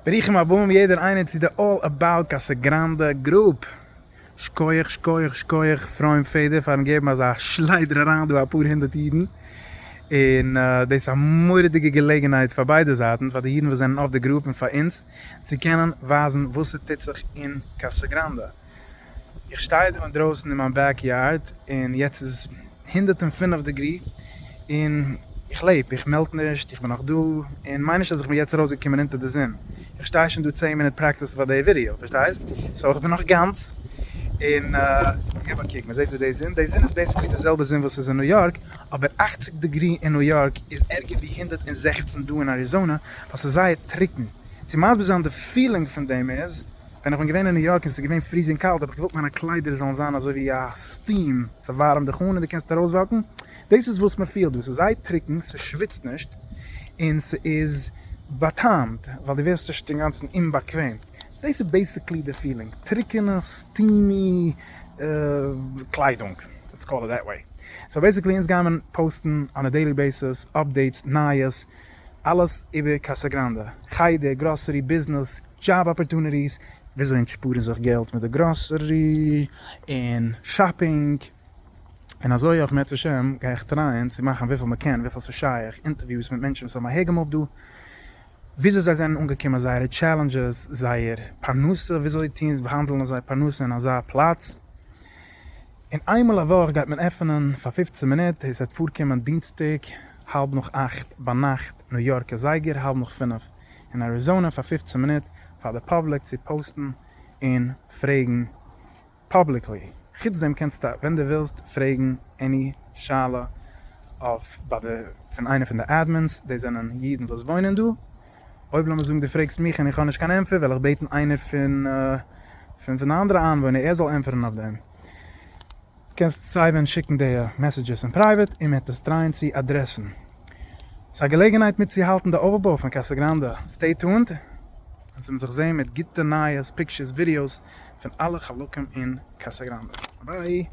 ברוכים הבאים יעדער איינער צו די אלל אבאוט קאסא גראנדע גרופ. שקויעך שקויעך שקויעך פרויען פעדער פארן געבן אזא שליידער אריין דא אפאר הונדערט אידן, און דאס איז א מורא'דיגע געלעגנהייט פאר ביידע זייטן, פאר די אידן וואס זענען אויף די גרופ און פאר אונז צו קענען ווייזן וואס ס'טוט זיך אין קאסא גראנדע. איך שטיי דא אינדרויסן אין מיין בעק יארד און יעצט איז עס הונדערט און פֿינף דעגרי און איך לעב, איך מעלט נישט, איך בין נאך דא, און מיין נישט אז איך בין יעצט ארויסגעקומען אונטער די זון, איך שטיי שוין דא צען מינוט פרעקטיסן פאר די ווידעא, פארשטייסט? סאו איך בין נאך גאנץ און געב א קוק, מען זעט דא די זון, די זון איז בעסיקלי די זעלבע זון וואס איז אין ניו יארק, אבער אַכציק דעגרי אין ניו יארק איז ערגער ווי הונדערט און זעכצן דא אין אריזאנע, ווייל ס'איז זייער טרוקן, צו מסביר זיין די פילינג פון דעם איז, ווען איך בין געווען אין ניו יארק און ס'איז געווען פריזינג קאלט האב איך געוואלט מיינע קליידער זאלן זיין אזוי ווי א סטים, ס'ווארעמט דיך אן און דו קענסט ארויסוואקן, דאס איז וואס מ'פילט דא, ס'איז זייער טרוקן, ס'שוויצט נישט און ס'איז בא'טעמ'ט ווייל דו ווערסט נישט אינגאנצן אומבאקוועם, דאס איז בעיסיקלי די פילינג, טרוקענע סטימי קליידונג, לעטס קאל איט דעט וועי, סאו בעיסיקלי אונז גיימער פאוסטן אן א דעילי בעיסיס אפדעיטס נייעס. אלעס איבער קאסא גראנדע, חדר, גראסערי, ביזנעס, דזשאב אפערטוניטיס, וויאזוי אנטשפארן זיך געלט מיט די גראסערי און שאפינג, און אזוי אויך מעט השם גיי איך טרייען צו מאכן וויפיל מען קען וויפיל ס'איז שייך אינטערוויוס מיט מענטשן וואס האבן אהערגעמופט דא, וויאזוי זיי זענען אנגעקומען, זייערע טשעלענדזשעס, זייער פרנסה, וויאזוי טוהן האנדלן זיי פרנסה אין אזא פלאץ. און איינמאל א וואך גייט מען עפענען פאר פופצן מינוט, עס וועט פארקומען דינסטאג האלב נאך אכט ביינאכט ניו יארקע זייגער, האלב נאך פינף אין אריזאנע, פאר פופצן מינוט פאר די פאבליק צו פאוסטן און פרעגן פאבליקלי, חוץ דעם קענסטו ווען דו ווילסט פרעגן עני שאלה אויף ביי די פון איינע פון די אדמינס, דאס זענען אידן וואס וואוינען דא. אויב לאמיר זאגן דו פרעגסט מיך און איך האב נישט קיין ענטפער וועל איך בעטן איינער פון פון פון די אנדערע איינוואוינער ער זאל ענטפערן אויף דעם. קענסט סיי ווען שיקן די מעסעדזשעס אין פרייוועט און מען וועט עס טרייען צו אדרעסן. ס'איז א געלעגנהייט מיטצוהאלטן די אויפבוי פון קאסא גראנדע. סטעי טונד אונז וועלן זיך זעהן מיט גוטע נייעס, פיקטשערס, ווידיאוס פון אלע חלקים אין קאסא גראנדע. ביי!